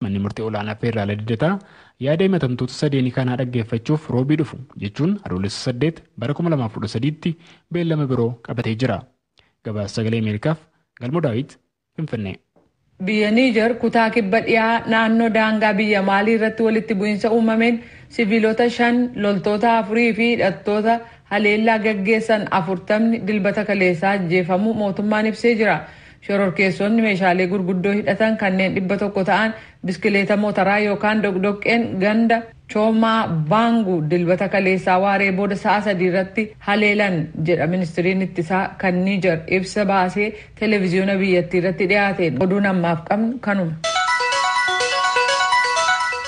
Manni murtii olaanaa feerraala Lidataa yaada himatamtoota sadeenii kanaa dhaggeeffachuuf roobii dhufu jechuun adoolessa 8 bara 2013tti beellama biroo qabatee jira. Gabaasa sagalee Ameerikaaf Galmoo Daawit Finfinnee. Biyya Niijar kutaa kibba dhiyaa naannoo daangaa biyya Maalii irratti walitti bu'insa uumameen siviilota shan, loltoota afurii fi hidhattoota haleellaa gaggeessan afurtamni Dilbata kaleessaa ajjeefamuu mootummaan ibsee jira. Shororkeessoonni meeshaalee gurguddoo hidhatan kanneen 100 ta'an biskileeta mootaraa yookaan doqdoqqeen ganda Choomaa Baangu Dilbata kaleessaa waaree booda sa'a sadii irratti haleelan jedha ministriin ittisaa kan Niijar ibsa baasee televiziyoona biyyattii irratti dhiyaateen. Oduun ammaaf qabnu kanuma.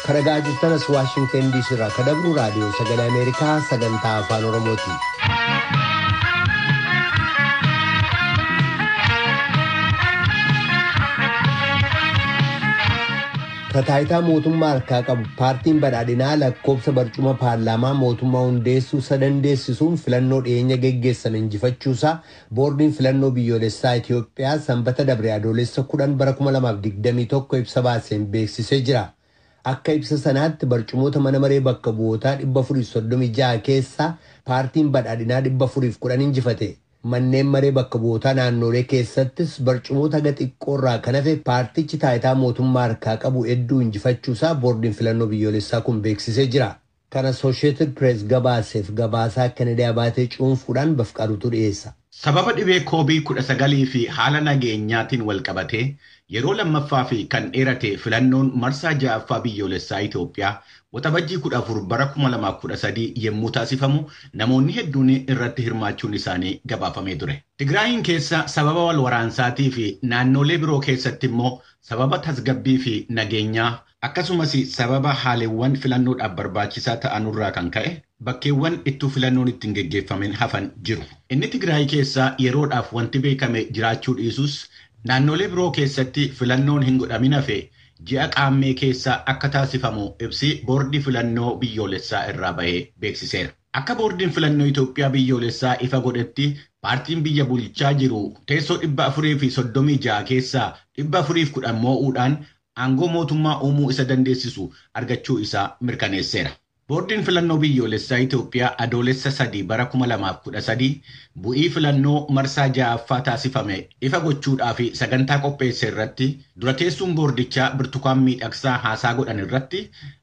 Ka dhagaa jirtan as Waashingten DC irraa ka dabru raadiyoo sagalee Ameerikaa sagantaa afaan Oromooti. Ka taayitaa mootummaa harkaa qabu paartiin badhaadhinaa lakkoobsa barcuma paarlaamaa mootummaa hundeessuu isa dandeessisuun filannoo dhiyeenya geggeessame injifachuusaa Boordiin Filannoo Biyyoolessaa Itiyoophiyaa Sanbata dabre Adoolessa 10 bara 2021 ibsa baaseen beeksisee jira. Akka ibsa sanaatti barcumoota mana maree bakka bu'ootaa 436 keessaa paartiin badhaadhinaa 410 injifate. Manneen maree bakka bu'ootaa naannoolee keessattis barcumoota haga xiqqoo irraa kan hafe paartichi taayitaa mootummaa harkaa qabu hedduu injifachuu isaa boordiin filannoo biyyoolessaa kun beeksisee jira. Kan Associated Press gabaaseef gabaasaa Kennedy Abaatee cuunfuudhaan Bafqaaduutu dhiyeessa. Sababa dhibee Covid 19 fi haala nageenyaatiin walqabatee yeroo lammaffaa fi kan dheerate filannoon marsaa 6ffaa biyyoolessaa Itoophiyaa Waxabajjii 14 bara 2013 yemmuu taasifamu namoonni hedduun irratti hirmaachuun isaanii gabaafamee ture. Tigraayiin keessa sababa walwaraansaatii fi naannoolee biroo keessatti immoo sababa tasgabbii fi nageenyaa Akkasumas sababa haalewwan filannoodhaaf barbaachisaa ta'anurraa kan ka'e bakkeewwan ittuu filannoon itti hin geggeeffamin hafan jiru. Inni Tigraay keessa yeroodhaaf wanti beekame jiraachuu dhiisus naannoolee biroo keessatti filannoon hin godhamin hafe ji'a Qaammee keessa akka taasifamu ibsi Boordii Filannoo Biyyoolessaa irraa bahe beeksiseera. Akka Boordiin Filannoo Itoophiyaa Biyyoolessaa ifa godhetti paartiin biyya bulchaa jiru teessoo 436 keessaa 410 moo'uudhaan aangoo mootummaa uumuu isa dandeessisu argachuu isaa mirkaneesseera. Boordiin Filannoo Biyyoolessaa Itoophiyaa Adoolessa 3 bara 2013 bu'ii filannoo marsaa 6ffaa taasifame ifa gochuudhaaf sagantaa qopheesse irratti dura teessuun boordichaa Birtukaan Miidhaksaa haasaa godhan irratti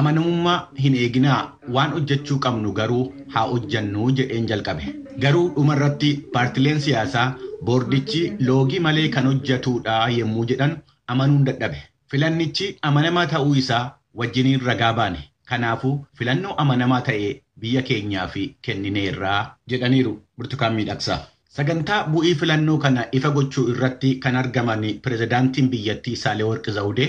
Amanamummaa hin eeginaa, waan hojjechuu qabnu garuu haa hojjennu jedheen jalqabe. Garuu dhuma irratti paartileen siyaasaa boordichi loogii malee kan hojjetuudha yemmuu jedhan amanuun dadhabe. Filannichi amanamaa ta'uu isaa wajjiniin ragaa baane. Kanaafuu filannoo amanamaa ta'e biyya keenyaaf kennineerra. jedhaniiru Birtukaan Miidhaksaa. Sagantaa bu'ii filannoo kana ifa gochuu irratti kan argaman pirezidaantiin biyyattii Saalewarq Zawudee,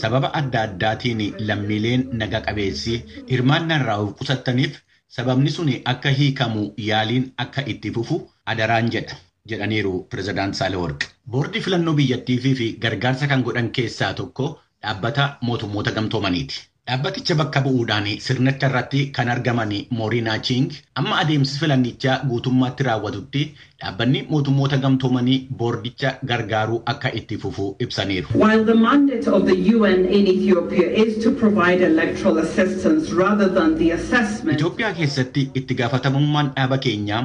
Sababa adda addaatiin lammiileen naga qabeessi hirmaannaa irraa of qusattaniif sababni suni akka hiikamu yaaliin akka itti fufu adaraan jedha, jedhaniiru Pirezidaant Saahilawarq. Boordii filannoo biyyattiifiif gargaarsa kan godhan keessaa tokko Dhaabbata Mootummoota Gamtoomaniiti. Dhaabbaticha bakka bu'uudhaan sirnacharratti kan argaman Mooriinaa Chiing, amma adeemsi filannichaa guutummaatti raawwatutti Dhaabbanni Mootummoota Gamtoomanii boordicha gargaaruu akka itti fufu ibsaniiru. While the mandate of the UN in Ethiopia is to provide electoral assistance rather than the assessment of Itoophiyaa keessatti itti gaafatamummaan dhaaba keenyaa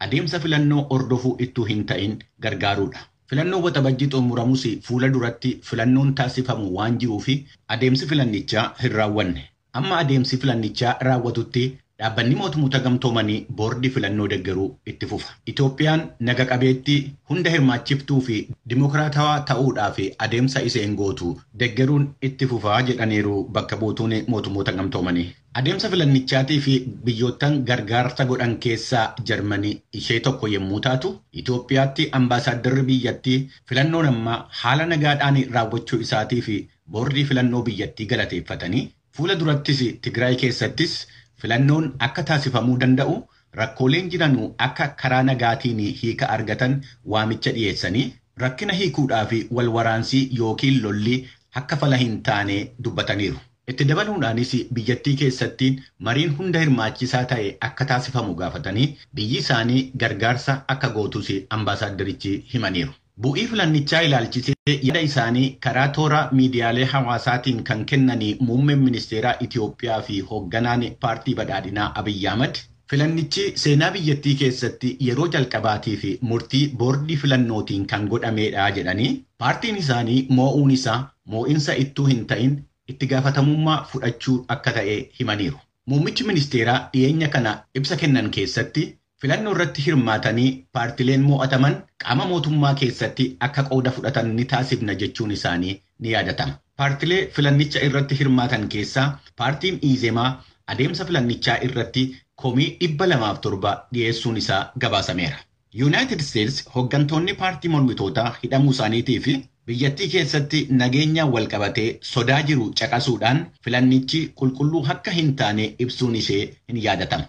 adeemsa filannoo hordofuu ittuu hin ta'in gargaaruudha. Filannoon Waxabajjii xumuramus fuula duratti filannoon taasifamu waan jiruuf adeemsi filannichaa hin raawwanne. Amma adeemsi filannichaa raawwatutti Dhaabbanni Mootumota Gamtoomanii boordii filannoo deggeruu itti fufa. Itoophiyaan naga qabeettii, hunda hirmaachiftuu fi dimokiraatawaa ta'uudhaaf adeemsa iseen gootu deggeruun itti fufa jedhaniiru bakka buutuun Mootummoota Gamtoomanii. Adeemsa filannichaatiif biyyoottan gargaarsa godhan keessaa Jarmani ishee tokko yemmuu taatu, Itoophiyaatti ambaasaaddarri biyyattii filannoon ammaa haala nagaadhaan raawwachuu isaatiif Boordii Filannoo biyyattii galateeffatanii, fuula durattis Tigraay keessattis filannoon akka taasifamuu danda'u, rakkooleen jiranu akka karaa nagaatiin hiika argatan waamicha dhiyeessanii, rakkina hiikuudhaaf wal waraansi ykn lolli akka fala hin taane dubbataniiru. Itti dabaluudhaanis biyyattii keessatti mariin hunda hirmaachisaa ta'e akka taasifamu gaafatanii, biyyi isaanii gargaarsa akka gootus ambaasaaddarichi himaniiru. Bu'ii filannichaa ilaalchisee yaada isaanii karaa toora miidiyaalee hawaasaatiin kan kennani Muummeen Ministeeraa Itiyoophiyaa fi Hoogganaan Paartii Badhaadhinaa Abiy Ahimad, filannichi seenaa biyyattii keessatti yeroo jalqabaatiif murtii boordii filannootiin kan godhameedha jedhanii, paartiin isaanii moo'uun isaa moo'insa ittuu hin ta'in itti gaafatamummaa fudhachuu akka ta'e himaniiru. Muummichi ministeeraa dhiyeenya kana ibsa kennan keessatti Filannoo irratti hirmaatanii paartileen moo'ataman qaama mootummaa keessatti akka qooda fudhatan ni taasifna jechuun isaanii ni yaadatama. Paartilee filannicha irratti hirmaatan keessaa paartiin Iizemaa adeemsa filannichaa irratti komii 207 dhiyeessuun isaa gabaasameera. Yuunaayitid Isteets hoggantoonni paartii mormitootaa hidhamuu isaaniitii fi biyyattii keessatti nageenyaan wal qabatee sodaa jiru caqasuudhaan filannichi qulqulluu akka hin taane ibsuun ishee hin yaadatama.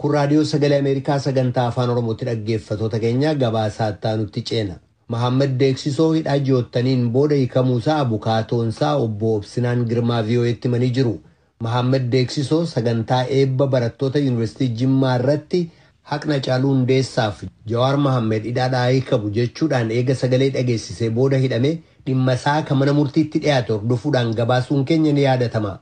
Kun Raadiyoo Sagalee Ameerikaa Sagantaa Afaan Oromooti dhaggeeffatoota keenya gabaasaa itti aanutti ceena. Mahaammad Deeksisoo hidhaa ji'oottaniin booda hiikamuusaa abukaatoonsaa obbo Obsinaan Girmaa VOA'tti himanii jiru. Mahaammad Deeksisoo sagantaa eebba barattoota Yuunivarsiitii Jimmaa irratti haqni Hacaaluu Hundeessaaf Jawaar Mahaammed hidhaadhaa haa hiikamu jechuudhaan eega sagalee dhageessisee booda hidhame dhimmasaa ka mana murtiitti dhiyaate hordofuudhaan gabaasuun keenya ni yaadatama.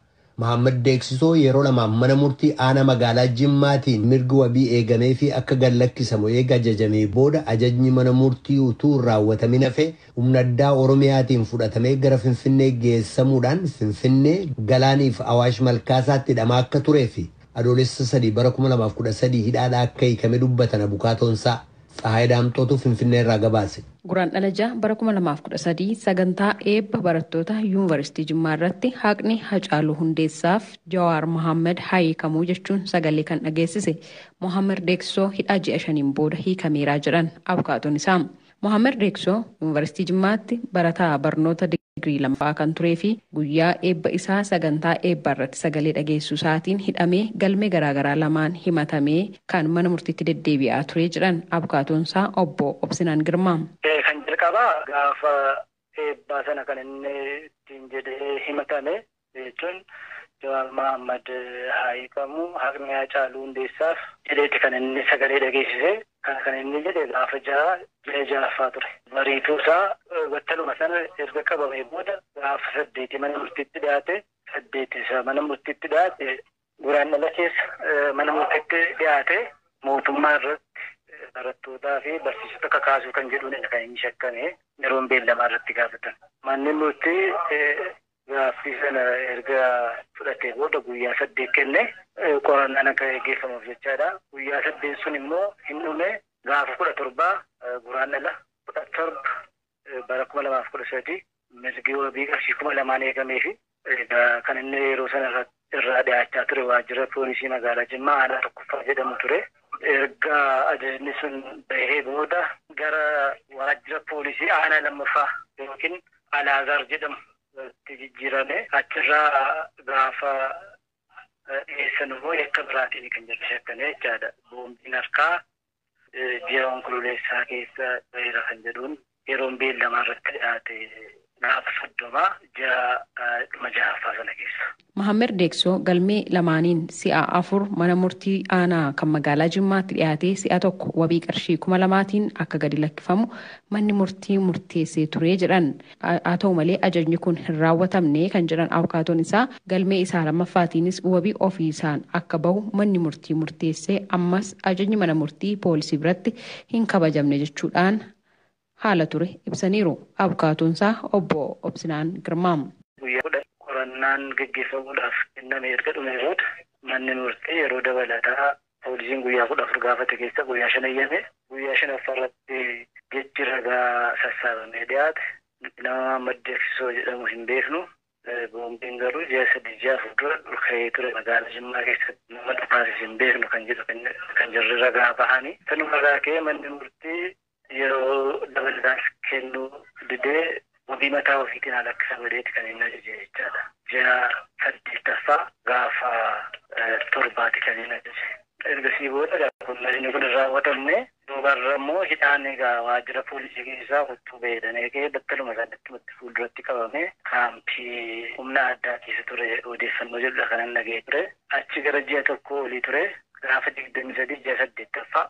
Mahaammad Deeksisoo yeroo lamaaf mana murtii aanaa magaalaa Jimmaatiin mirgi wabii eegameefii akka gad lakkisamu eega ajajamee booda ajajni mana murtii utuu hin raawwatamin hafe humna addaa Oromiyaatiin fudhatamee gara Finfinnee geessamuudhaan Finfinnee, Galaanii fi Awaash Malkaasaatti hidhamaa akka turee fi Adoolessa 3 bara 2013 hidhaadhaa akka hiikame dubbatan abukaatoonsaa. Tsahaay Daamxootu Finfinnee irraa gabaase. Guraandhala 6 bara 2013 sagantaa eebba barattoota Yuunvaristii Jimmaa irratti haqni Hacaaluu Hundeessaaf Jawaar Mohaammed haa hiikamuu jechuun sagalee kan dhageessise Mohaammer Deeksoo hidhaa ji'a shaniin booda hiikameeraa jedhan abukaatoon isaa. Mohaammer Deeksoo Yuunvaristii Jimmaatti barataa barnoota digirii lammaffaa kan turee fi guyyaa eebba isaa sagantaa eebbaa irratti sagalee dhageessuu isaatiin hidhamee galmee garaagaraa lamaan himatamee kan mana murtiitti deddeebi'aa ture jedhan abukaatoon isaa obbo Obsinaan Girmaa. Kan jalqabaa gaafa eebbaa sana kan inni ittiin jedhee himatame jechuun Jawaar Mahaammad haa hiikamu, haqni Haacaaluu Hundeessaaf. jedheeti kan inni sagalee dhageessise. Kana kan inni jedhe gaafa 6 ji'a 6ffaa ture. Bariituu isaa battaluma sana erga qabamee booda gaafa 8 mana murtiitti dhiyaate. 8 isa mana murtiitti dhiyaate. Guraandhala keessa mana murtiitti dhiyaate. Mootummaa irratti barattootaa fi barsiisota kakaasuu kan jedhuunidha kan inni shakkame yeroon beellamaa irratti gaafatan. Manni murtii Gaaffii sana erga fudhatee booda guyyaa saddeet kenne. Qorannaan akka gaggeeffamuuf jechaadha. Guyyaa saddeet sun immoo hin dhume. Gaafa kudha torba Guraandhala kudha torba bara kuma lamaa fi kudha sadii mirgi wabii qarshii kuma lamaan eegameefi kan inni yeroo sana irratti irraa dhiyaachaa ture waajjira poolisii magaalaa Jimmaa aanaa tokkoffaa jedhamu ture. Erga ajajni sun bahee booda gara waajjira poolisii aanaa lammaffaa yookiin Alaazaar jedhamu itti jijjiirame. Achirraa gaafa dhiyeessan immoo yakka biraatiin kan jedhu shakkamee jechaadha. Boombiin harkaa ji'a Onkololeessaa keessa baheera kan jedhuun yeroon beellamaa irratti dhiyaate gaafa 30 ji'a dhuma 6ffaa sana keessa. Mahammed Deeksoo galmee lamaaniin si'a afur mana murtii aanaa kan magaalaa Jimmaatti dhiyaatee si'a tokko wabii qarshii kuma lamaatiin akka gadi lakkifamu manni murtii murteessee ture jedhan. Haa ta'u malee ajajni kun hin raawwatamne kan jedhan abukaatoon isaa, galmee isaa lammaffaatiinis wabii ofiisaan akka bahu manni murtii murteesse, ammas ajajni mana murtii poolisii biratti hin kabajamne jechuudhaan haala ture ibsaniiru abukaatoon isaa obbo Obsinaan Girmaa. Guyyaa kudhan qorannaan gaggeeffamuudhaaf kenname erga dhumee booda manni murtii yeroo dabalataa Poolisiin guyyaa 14 gaafate keessaa guyyaa 5 eyyame. Guyyaa 5ffaa irratti jechi ragaa sassaabamee dhiyaate nama Maammed Deksisoo jedhamu hin beeknu, boombiin garuu ji'a 3, ji'a 4 dura dhuka'ee ture magaalaa Jimmaa keessatti nama dhukaasise hin beeknu kan jedhu kan jarri ragaa bahani. Sanuma irraa ka'ee manni murtii yeroo dabalataas kennuu didee wabii mataa ofiitiin haa lakkisan jedheeti kan inni ajaje jechaadha. Ji'a saddeettaffaa gaafa torbaati kan inni ajaje. Ergasii booda egaa kun inni kun hin raawwatamne duubarra immoo hidhaan egaa waajjira poolisii keessaa kottuu ba'ee jedhanii eegee battaluma sanattumatti fuulduratti qabamee kaampii humna addaa keessa ture odeeffannoo jedhudha kanan dhaga'ee ture. Achi gara ji'a tokkoo olii ture gaafa digdamii sadii ji'a saddeettaffaa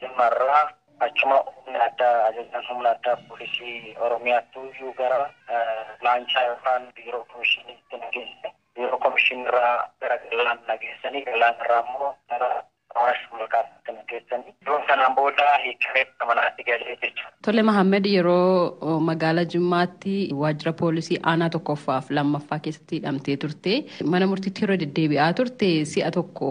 Jimma irraa achuma humni addaa ajajaan humna addaa poolisii Oromiyaattuyyuu gara laanchaa yookaan biiroo komishiniitti na geesse. Biiroo komishiniirraa gara Galaan na geessanii Galaan irraa immoo gara Awaash Malkaatti na geessanii. Yeroo sanaan booda hiikkamee gara manaatti gale jechuudha. Tole Mahammad yeroo magaala Jimmaatti waajjira poolisii aanaa tokkoffaaf lammaffaa keessatti hidhamtee turte. Mana murtiitti yeroo deddeebi'aa turte si'a tokko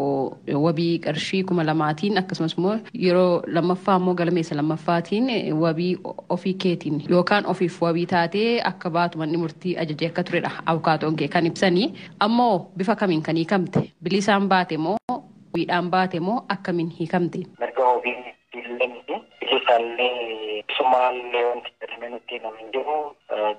wabii qarshii kuma lamaatiin akkasumas immoo yeroo lammaffaa immoo galmeessa lammaffaatiin wabii ofii keetiin yookaan ofiif wabii taatee akka baatu manni murtii ajajee akka turedha abukaatoon kee kan ibsanii. Ammoo bifa kamiin kan hiikamte? Bilisaan baate moo wabiidhaan baate moo akkamiin hiikamte? Mirga wabiin Beellamni bilisaallee isumaallee wanti jedhamee nutti himame hin jiru.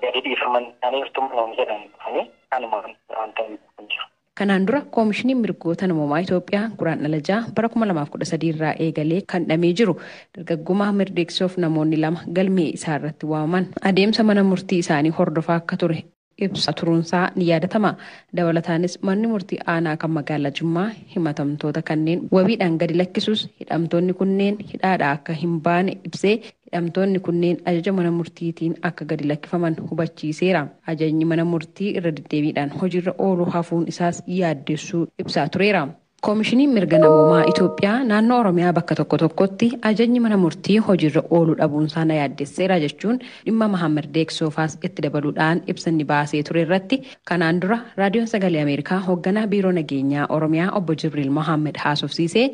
Gadi dhiifaman isaaniirtu nuun jedhan dhufanii kanuma wanta hin jiru. Kanaan dura Koomishiniin Mirgoota Namoomaa Itoophiyaa Guraandhala 6 bara 2013 irraa eegalee kan dhamee jiru dargagguma Mirdeeksoof namoonni lama galmee isaa irratti waamaman adeemsa mana murtii isaanii hordofaa akka ture ibsaa turuunsaa ni yaadatama. Dabalataanis manni murtii aanaa kan magaalaa Jimmaa himatamtoota kanneen wabiidhaan gadi lakkisus hidhamtoonni kunneen hidhaadhaa akka hin baane ibsee hidhamtoonni kunneen ajaja mana murtiitiin akka gadi lakkifaman hubachiiseera. Ajajni mana murtii irra deddeebiidhaan hojiirra ooluu hafuun isaas yaaddessuu ibsaa tureera. Komishiniin Mirga Namoomaa Itoophiyaa naannoo Oromiyaa bakka tokko tokkotti ajajni mana murtii hojiirra ooluu dhabuunsaa na yaaddesseera jechuun dhimma Mahaammad Deeq Soofaas itti dabaluudhaan ibsa inni baasee ture irratti kanaan dura Raadiyoon Sagalee Ameerikaa hogganaa Biiroo Nageenyaa Oromiyaa Obbo Jibriil Mohaammed haasofsiisee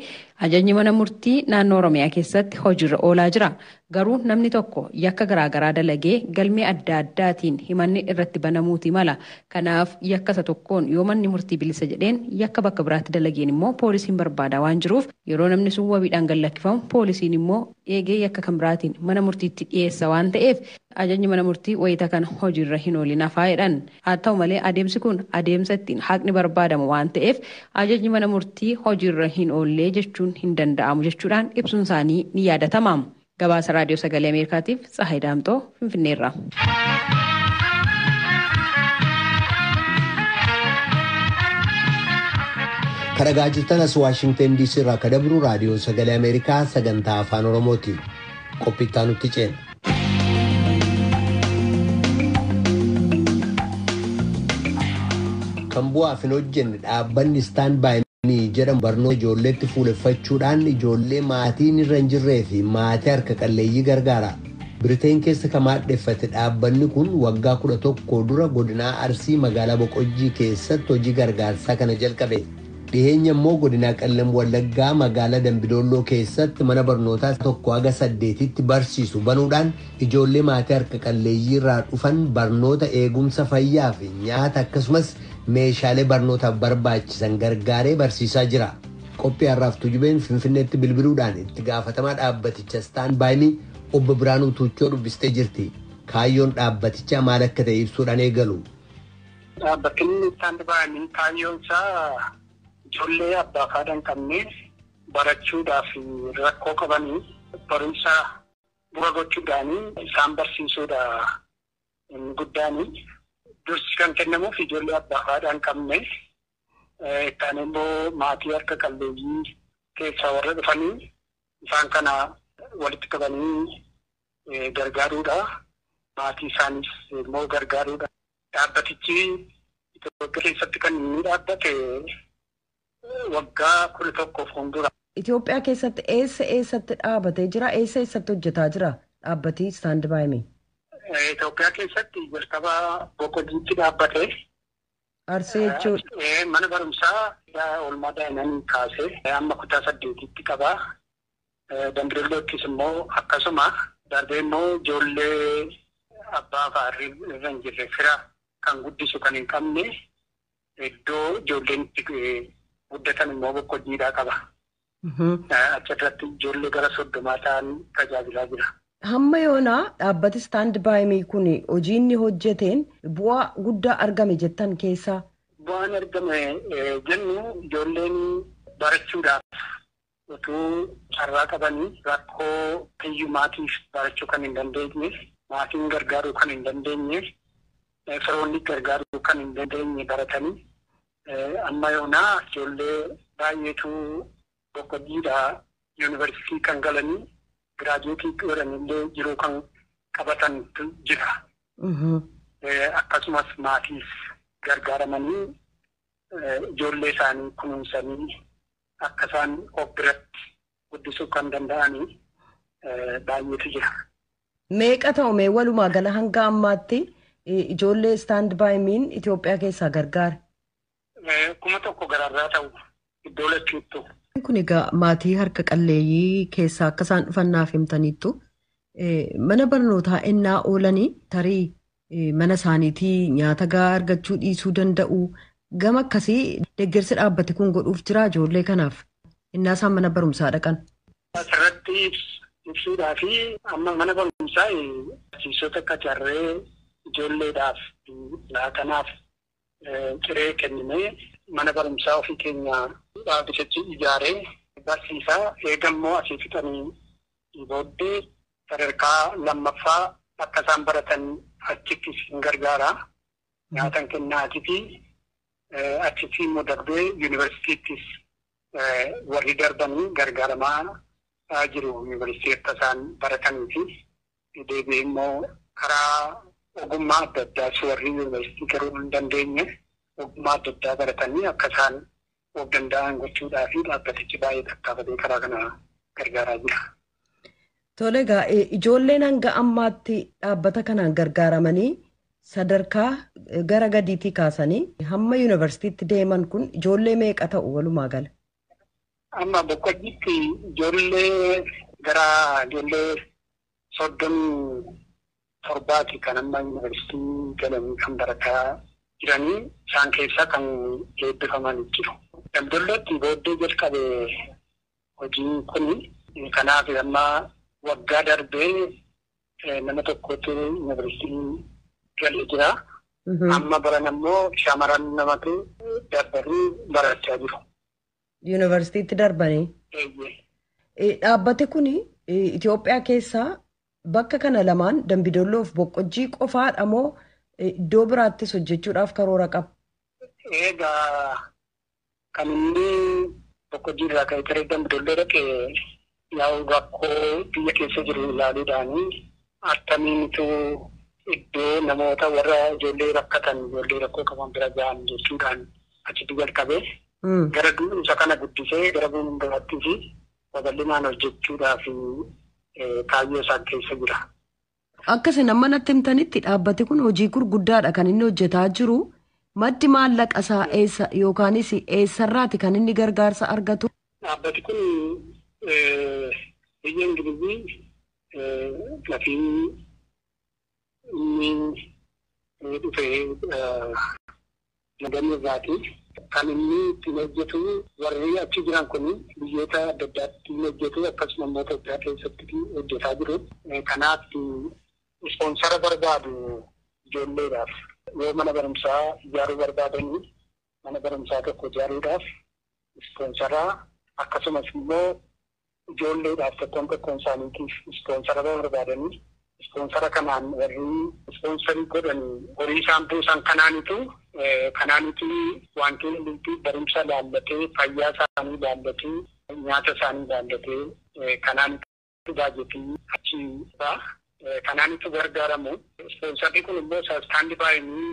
ajajni mana murtii naannoo Oromiyaa keessatti hojiirra oolaa jira Garuu namni tokko yakka garaagaraa dalagee galmee adda addaatiin himanni irratti banamuuti mala. Kanaaf yakka isa tokkoon yoo manni murtii bilisa jedheen yakka bakka biraatti dalageen immoo poolisiin barbaadaa waan jiruuf yeroo namni sun wabiidhaan gad lakkifamu poolisiin immoo eegee yakka kan biraatiin mana murtiitti dhiyeessa waan ta'eef ajajni mana murtii wayita kana hojiirra hin oolin hafa jedhan. Haa ta'u malee adeemsi kun adeemsa ittiin haqni barbaadamu waan ta'eef ajajni mana murtii hojiirra hin oollee jechuun hin danda'amu jechuudhaan ibsuun isaanii ni yaadatama. Gabaasa Raadiyoo Sagalee Ameerikaatiif Tsahaay Daamxoo Finfinneerraa. Kan dhagaa jirtan as Waashingtan DC irraa kan dabru raadiyoo sagalee Ameerikaa sagantaa afaan Oromooti. Qophiittaa nutti ceena. kan bu'aaf hin hojjenne dhaabbanni istaan baay'inii jedhamu barnoota ijoolleetti fuuleffachuudhaan ijoollee maatiin irra hin jirree fi maatii harka qalleeyyii gargaara. Biriteen keessa kan maadheffate dhaabbanni kun waggaa 11 dura godinaa Arsii magaalaa Boqojjii keessatti hojii gargaarsaa kana jalqabe. Dhiheenya immoo Godinaa Qellem Wallaggaa Magaalaa Dambidoolloo keessatti mana barnootaa 1-8tti barsiisu banuudhaan ijoollee maatii harka qalleeyyii irraa dhufan barnoota, eegumsa fayyaa fi nyaata akkasumas meeshaalee barnootaaf barbaachisan gargaaree barsiisaa jira. Qophii har'aaf Tujubeen Finfinneetti bilbiluudhaan itti gaafatamaa dhaabbaticha Staan By Me obbo Biraanuu Tuuchoo dubbistee jirti. Kaayyoon dhaabbatichaa maal akka ta'e ibsuudhaan eegalu. Dhaabbatni Istaand Baay Mii kaayyoon isaa ijoollee abbaaf haadha hin qabne barachuudhaaf rakkoo qabaniif barumsa bu'a gochuudhaan isaan barsiisuudha inni guddaan. Dursi kan kennamuuf ijoollee abbaaf haadha hin qabne, itti aanee immoo maatii harka qalleeyyii keessaa warra dhufanii isaan kana walitti qabanii gargaaruudha. Maatii isaaniis immoo gargaaruudha. Dhaabbatichi Itoophiyaa keessatti kan inni dhaabbate waggaa kudha tokko fuuldura. Itoophiyaa keessatti eessa eessatti dhaabatee jira? Eessa eessatti hojjetaa jira dhaabbatii Istaand Baayimi? Itoophiyaa keessatti jalqaba Boqodiitti dhaabbate. Arsii jechuudha. Mana barumsaa oolmaa daa'immanii kaasee amma kutaa saddeetitti qaba. Dambidollottis immoo akkasuma. Darbee immoo ijoollee abbaa fa'aa irra hin jirre fira kan guddisu kan hin qabne iddoo ijoolleen itti guddatan immoo boqqojjiidhaa qaba. Achirratti ijoollee gara soddomaa ta'an tajaajilaa jira. Hamma yoonaa dhaabbati istaand baayimii kun hojii inni hojjeteen bu'aa guddaa argame jettan keessaa. Bu'aan argame jennu ijoolleen barachuudhaaf utuu carraa qabanii rakkoo hiyyumaatiif barachuu kan hin dandeenye, maatiin gargaaruu kan hin dandeenye, firoonni gargaaruu kan hin dandeenye baratanii amma yoonaa ijoollee baay'eetu boqqojjiidha yuunivarsiitii kan galanii giraajuweetii godhanillee jiruu kan qabatantu jira. Akkasumas maatiis gargaaramanii ijoollee isaanii kunuunsanii akka isaan of biratti guddisuu kan danda'anii baay'eetu jira. Meeqa ta'u mee walumaa gala hanga ammaatti ijoollee istaand baay miin Itoophiyaa keessaa gargaare? Kuma tokko gararraa ta'u iddoo lachuuttu. Kun egaa maatii harka qalleeyyii keessaa akka isaan dhufan naaf himtaniittu mana barnootaa ennaa oolanii tarii mana isaaniitii nyaata gahaa argachuu dhiisuu danda'u. Gama akkasii deeggarsi dhaabbati kun godhuuf jira ijoollee kanaaf innaa isaan mana barumsaa dhaqan. Asirratti ibsuudhaa fi amma mana barumsaa barsiisota qacarree ijoolleedhaaf laatanaaf ciree kenninee mana barumsaa ofii keenyaa dhaabbitichi ijaaree barsiisaa. Eega immoo asii fixanii booddee sadarkaa lammaffaa akka isaan baratan achitti isin gargaara. Nyaatan kennaatifi achitti immoo darbee yuunivarsiitiittis warri darbanii gargaaramaa jiru yuunivarsiitii akka isaan baratanii fi deebi'ee immoo karaa ogummaa adda addaas warri yuunivarsiitii garuu hin dandeenye ogummaa adda addaa baratanii akka isaan of danda'an gochuudhaa fi dhaabbatichi baay'ee tattaafatee karaa kana gargaaraa jira. Tole egaa eh, ijoolleen hanga ammaatti dhaabbata kanaan gargaaramanii sadarkaa eh, gara gadiitii kaasanii hamma yuunivarsiitiitti deeman kun ijoollee meeqa ta'u walumaa gala? Amma boqqojjiitti ijoollee gara ijoollee soddomii torbaati kan amma yuunivarsiitii galanii kan barataa jiranii isaan keessaa kan eebbifaman jiru. Damdollootti booddee jalqabe Hojiin kun kanaaf amma waggaa darbe nama tokkotu yunivarsiitii galee jira. Amma barana immoo shamaran namatu darbanii barachaa jiru. Yunivarsiitiitti darbanii. Eeyyee. Eh, Dhaabbati kun Itoophiyaa keessaa bakka kana lamaan Dambidolloof Boqqojjii qofaadha moo eh, iddoo biraattis hojjechuudhaaf karoora qaba? Egaa Kan inni tokko jiirraa ka'e taree dambidolloo dhaqe yaa'u rakkoo biyya keessa jiru ilaaluudhaani attamiinitu iddoo namoota warra ijoollee rakkatan ijoollee rakkoo qaban bira ga'an jechuudhaan achitti jalqabe. Gara isa kana guddisee gara fuulduraattis babal'inaan hojjechuudhaaf kaayyoo isaa keessa jira. Akka isin amma natti himtanitti dhaabbati kun hojii gurguddaadha kan inni hojjetaa jiru. Maddi maallaqa isaa eessa yookaanis eessarraati kan inni gargaarsa argatu? Dhaabbati kun biyya Ingilizii lafii inni dhufee Madamii irraati. Kan inni ittiin hojjetu warri achi jiran kun biyyoota adda addaatti ni hojjetu akkasuma immoo Itoophiyaa keessatti hojjetaa jiru. Kanaaf ispoonsara barbaadu ijoolleedhaaf. Yoo mana barumsaa ijaaruu barbaadan mana barumsaa tokko ijaaruudhaaf ispoonsaraa akkasumas immoo ijoolleedhaaf tokkoon tokkoon isaaniitiif ispoonsara barbaadanii ispoonsara kanaan warri ispoonsarii godhani horii isaan buusan kanaanitu kanaanitu wanti hundumtuu barumsa ilaallatee fayyaa isaanii ilaallatee nyaata isaanii ilaallatee kanaanitu baajetii achi ba'a kanaanitu gargaaramu ispoonsarri kun immoo sastaandi baayinii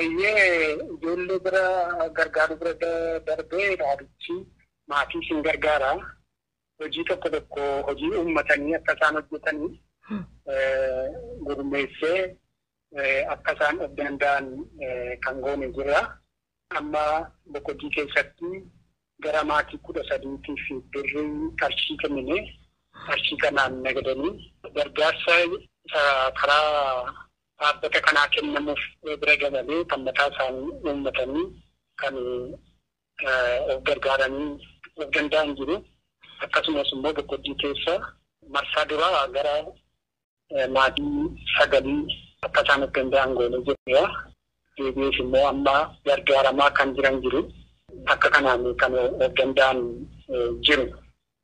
Eeyyee ijoollee bira gargaaruu bira darbee dhaabichi maatii isin gargaara. Hojii tokko tokko hojii uummatanii akka isaan hojjetanii gurmeessee akka isaan of danda'an kan goone jira. Amma boqojii keessatti gara maatii kudha sadiitiif birrii qarshii kennine qarshii kanaan nagadanii gargaarsa karaa dhaabbata kanaa kennamuuf bira dabalee kan mataa isaanii uummatanii kan of gargaaranii of danda'an jiru. Akkasumas immoo boqqojjii keessa marsaa duraa gara maatii sagalii akka isaan of danda'an goonee jirra. Deebi'ees immoo amma gargaaramaa kan jiran jiru. Akka kanaan kan of danda'an jiru.